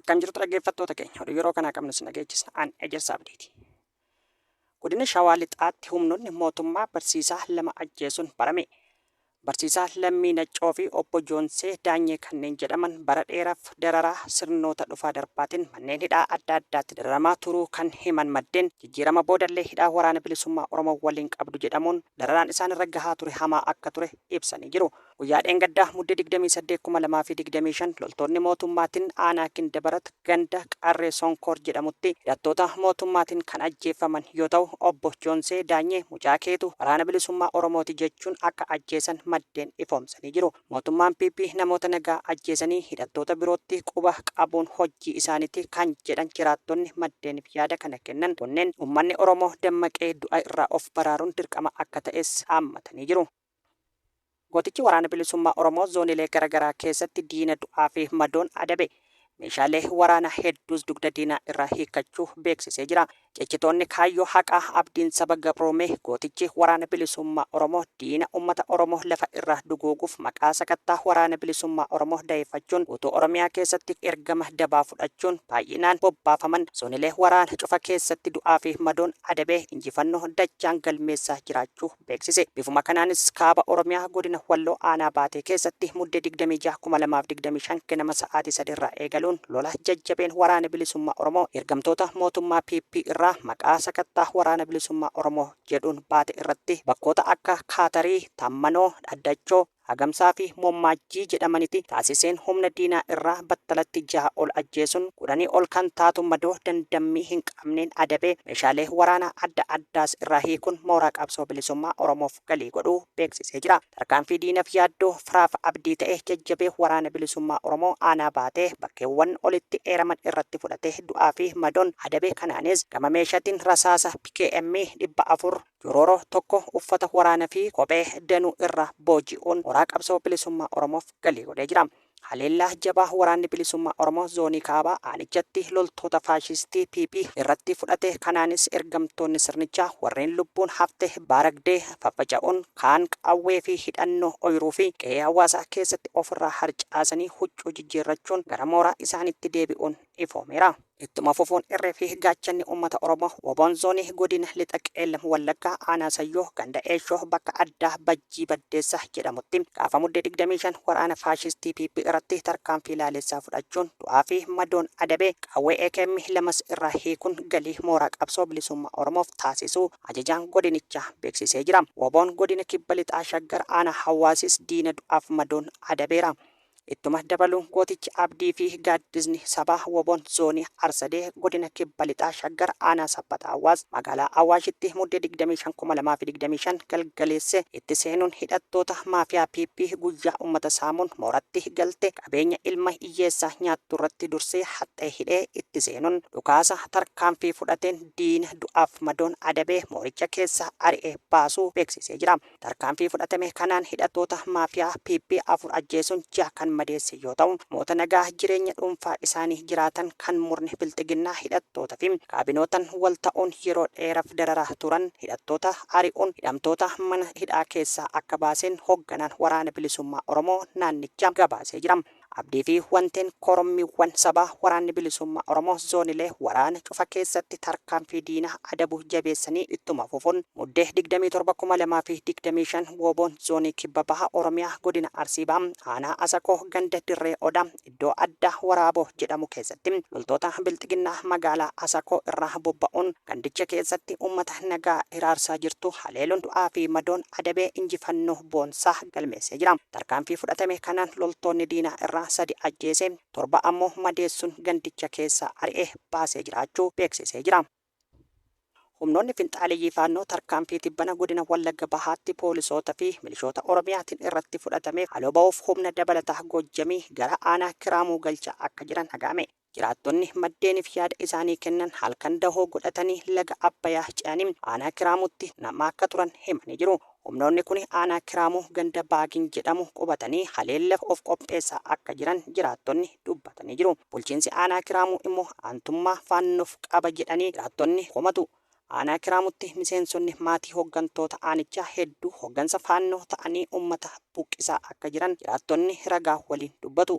Akkam jirtu dhaggeeffattoota keenya oduu yeroo kanaa qabnu sina geechisa an ejersa abdiiti. Godina Shawaa Lixaatti humnoonni mootummaa barsiisaa lama ajjeesuun barame. Barsiisaa Lammii Naccoo fi obbo Joonsee Daanyee kanneen jedhaman bara dheeraaf dararaa sirnoota dhufaa darbaatiin manneen hidhaa adda addaatti dararamaa turuu kan himan maddeen jijjiirama boodallee hidhaa waraana bilisummaa Oromoo waliin qabdu jedhamuun dararaan isaan irra gahaa ture hamaa akka ture ibsanii jiru. Guyyaa dheengaddaa Mudde 28,2025 loltoonni mootummaatin aanaa Gindabarat ganda Qarree Sonkoor jedhamutti hidhattoota mootummaatin kan ajjeeffaman yoo ta'u Obbo Joonsee Daanyee mucaa keetu Waraana Bilisummaa Oromooti jechuun akka ajjeesan maddeen ifoomsanii jiru. Mootummaan PP namoota nagaa ajjeesanii hidhattoota birootti quba qabuun hojjeta. hojii isaaniiti kan jedhan jiraattonni maddeenif yaada kana kennan kunneen ummanni Oromoo dammaqee du'a irraa of baraaruun dirqama akka ta'es dhaammatanii jiru. Gootichi Waraana Bilisummaa Oromoo zoonilee gara garaa keessatti diina du'aa fi madoon adabe meeshaalee waraanaa hedduus dugda diinaa irraa hiikkachuu beeksisee jira. Cichitoonni kaayyoo haqaa abdiin saba gabroomee gootichi Waraana Bilisummaa Oromoo diina ummata Oromoo lafa irraa duguuguuf maqaa sakattaa Waraana Bilisummaa Oromoo daheeffachuun guutuu Oromiyaa keessatti ergama dabaa fudhachuun baay'inaan bobbaafaman zonilee waraana cufa keessatti du'aa fi madoon adabee injifannoo dachaan galmeessaa jiraachuu beeksise. Bifuma kanaanis Kaaba Oromiyaa Godina Walloo Aanaa Baatee keessatti Muddee 26,2025 ganama sa'aatii 3:00 irraa eegaluun lola jajjabeen Waraana Bilisummaa Oromoo ergamtoota mootummaa PP irraa maqaa sakattaa Waraana Bilisummaa Oromoo jedhuun baate irratti bakkoota akka Kaatarii, Tammanoo, Dhaddachoo, Agamsaa fi Mommaajjii jedhamaniti taasiseen humna diinaa irraa battalatti jaha ol ajjeesuun kudhanii ol kan taatu madoo dandammii hin qabneen adabee meeshaalee waraanaa adda addaas irraa hiikuun mooraa qabsoo bilisummaa Oromoof galii godhuu beeksisee jira. Tarkaanfii diinaf yaaddoo, firaaf abdii ta'e jajjabee Waraana Bilisummaa Oromoo Aanaa Baatee bakkeewwan olitti eeraman irratti fudhate du'aa fi madoon adabe kanaanis gama meeshatiin rasaasa PKM 400, Roro tokko uffata waraana fi kophee danuu irra booji'uun mooraa qabsoo bilisummaa Oromoof galii godhee jira. Haleellaa jabaa waraanni bilisummaa Oromoo zoonii kaabaa aanichatti loltoota faashistii PP irratti fudhate kanaanis ergamtoonni sirnichaa warreen lubbuun hafte baaragdee faffaca'uun kaan qawwee fi hidhannoo oyiruu fi qe'ee hawaasaa keessatti ofirraa harcaasanii huccuu jijjiirrachuun gara mooraa isaaniitti deebi'uun ifoomeera. Ittuma fufuun irree fi gaachanni uummata Oromoo wbon Zoonii Godina Lixa Qeellam Wallaggaa Aanaa Sayyoo ganda Eeshoo bakka addaa Bajjii Baddeessa jedhamutti gaafa Muddee 25 waraana faashistii PP irratti tarkaanfii laalessaa fudhachuun du'aa fi madoon adabe qawwee akm 2s irraa hiikuun galii mooraa qabsoo bilisummaa Oromoof taasisuu ajajaan godinichaa beeksisee jira. Wbon Godina Kibba Lixaa Shaggar Aanaa Hawaasis diina du'aaf madoon adabeera. Ittuma dabaluun gootichi Abdii fi Gaaddisni Sabaa wbon Zoonii Arsadee Godina Kibba Lixaa Shaggar Aanaa Sabbata Awwaas Magaalaa Awaashitti Muddee 25,2025 galgaleesse itti seenuun hidhattoota maafiyaa PP guyyaa ummata saamuun mooratti galte qabeenya ilma iyyeessaa nyaatturratti dursee haxxee hidhee itti seenuun dhukaasa tarkaanfii fudhateen diina du'aaf madoon adabee mooricha keessaa ari'ee baasuu beeksisee jira. Tarkaanfii fudhatame kanaan hidhattoota maafiyaa PP afur ajjeesuun jaha kan madeesse yoo ta'u, namoota nagaa jireenya dhuunfaa isaanii jiraatan kan murni bilxiginnaa hidhattoota fi kaabinootan wal ta'uun yeroo dheeraf dararaa turan hidhattoota ari'uun hidhamtoota mana hidhaa keessaa akka baaseen hogganaan Waraana Bilisummaa Oromoo naannichaa gabaasee jira. Abdii fi Wanteen Korommiiwwan Sabaa Waraanni Bilisummaa Oromoo Zoonilee waraana cufa keessatti tarkaanfii diina adabu jabeessanii ittuma fufuun Muddee 27,2025 Wooboon Zoonii Kibba Baha Oromiyaa Godina Arsii Baha Aanaa Asakoo Ganda Dirree Odaa iddoo addaa Waraaboo jedhamu keessatti loltoota Bilxiginnaa Magaalaa Asakoo irraa bobba'uun Gandicha keessatti uummata nagaa hiraarsaa jirtu haleeluun du'aa fi madoon adabee injifannoo boonsaa galmeessee jira. Tarkaanfii fudhatame kanaan loltoonni diinaa irraa sadi ajjeesee, torba ammoo madeessuun gandicha keessaa ari'ee baasee jiraachuu beeksisee jira. Humnoonni finxaaleyyii Faannoo tarkaanfii tibbana godina Wallagga Bahaatti poolisoota fi milishoota Oromiyaatiin irratti fudhatameef haloo ba'uuf humna dabalataa Goojjamii gara aanaa Kiraamuu galchaa akka jiran dhaga'ame. Jiraattonni maddeenif yaada isaanii kennan halkan dahoo godhatanii laga Abbayaa ce'anii aanaa Kiraamuutti nama akka turan himanii jiru. Humnoonni kuni aanaa Kiraamuu ganda Baagin jedhamu qubatanii haleellaf of qopheessaa akka jiran jiraattonni dubbatanii jiru. Bulchiinsi aanaa Kiraamuu immoo aantummaa Faannoof qaba jedhanii jiraattonni komatu. Aanaa Kiraamutti miseensonni maatii hoggantoota aanichaa hedduu hoggansa Faannoo ta'anii ummata buqqisaa akka jiran jiraattonni ragaa waliin dubbatu.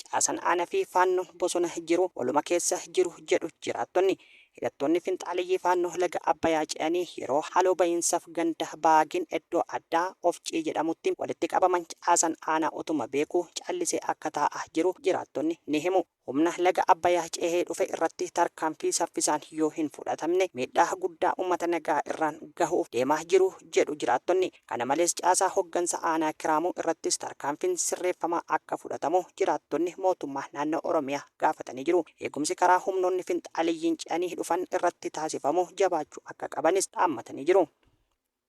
Caasan aana fi Faannoon bosona jiru waluma keessa jiru jedhu jiraattonni. Hidhattoonni finxaaleyyii Faannoo laga Abbayaa ce'anii yeroo haloo bahiinsaf ganda Baagin eddoo addaa Ofcii jedhamutti walitti qabaman caasan aanaa utuma beekuu callisee akka taa'a jiru jiraattonni ni himu. Humna laga Abbayah cehee dhufe irratti tarkaanfii saffisaan yoo hin fudhatamne miidhaa guddaa ummata nagaa irraan gahuuf deemaa jiru jedhu jiraattonni. Kana malees caasaa hoggansa aanaa Kiraamuu irrattis tarkaanfiin sirreeffamaa akka fudhatamu jiraattonni mootummaa naannoo Oromiyaa gaafatanii jiru. Eegumsi karaa humnoonni finxaaleyyiin ce'anii dhufan irratti taasifamu jabaachuu akka qabanis dhaammatanii jiru.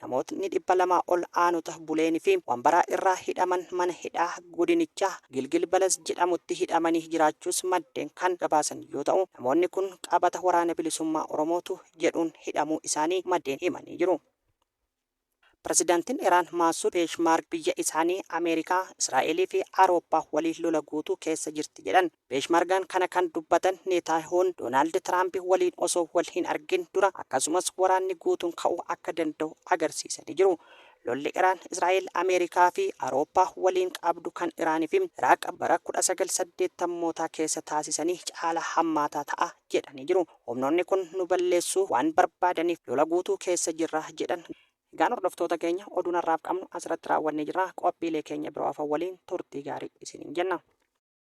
Namootni 200 ol aanota Buleen fi Wambaraa irraa hidhaman mana hidhaa godinichaa Gilgil Balas jedhamutti hidhamanii jiraachuus maddeen kan gabaasan yoo ta'u, namoonni kun qabata Waraana Bilisummaa Oromootu jedhuun hidhamuu isaanii maddeen himanii jiru. Pirezidantiin Iraan Maasuud Peeshmaarg biyya isaanii Ameerikaa, Israa'elii fi Awurooppaa waliin lola guutuu keessa jirti jedhan. Peeshmargaan kana kan dubbatan Neetaayahuun Doonaald Tiraampi waliin osoo wal hin argin dura akkasumas waraanni guutuun ka'uu akka danda'u agarsiisanii jiru. Lolli Iraan, Israa'el, Ameerikaa fi Awurooppaa waliin qabdu kan Iraan fi Iraaq bara 1980mootaa keessa taasisanii caalaa hammaataa ta'a jedhanii jiru. Humnoonni kun nu balleessuu waan barbaadaniif lola guutuu keessa jirra jedhan. Egaan hordoftoota keenya oduun har'aaf qabnu asirratti raawwannee jirra. Qophiilee keenya biroo hafan waliin turtii gaarii isiniin jenna.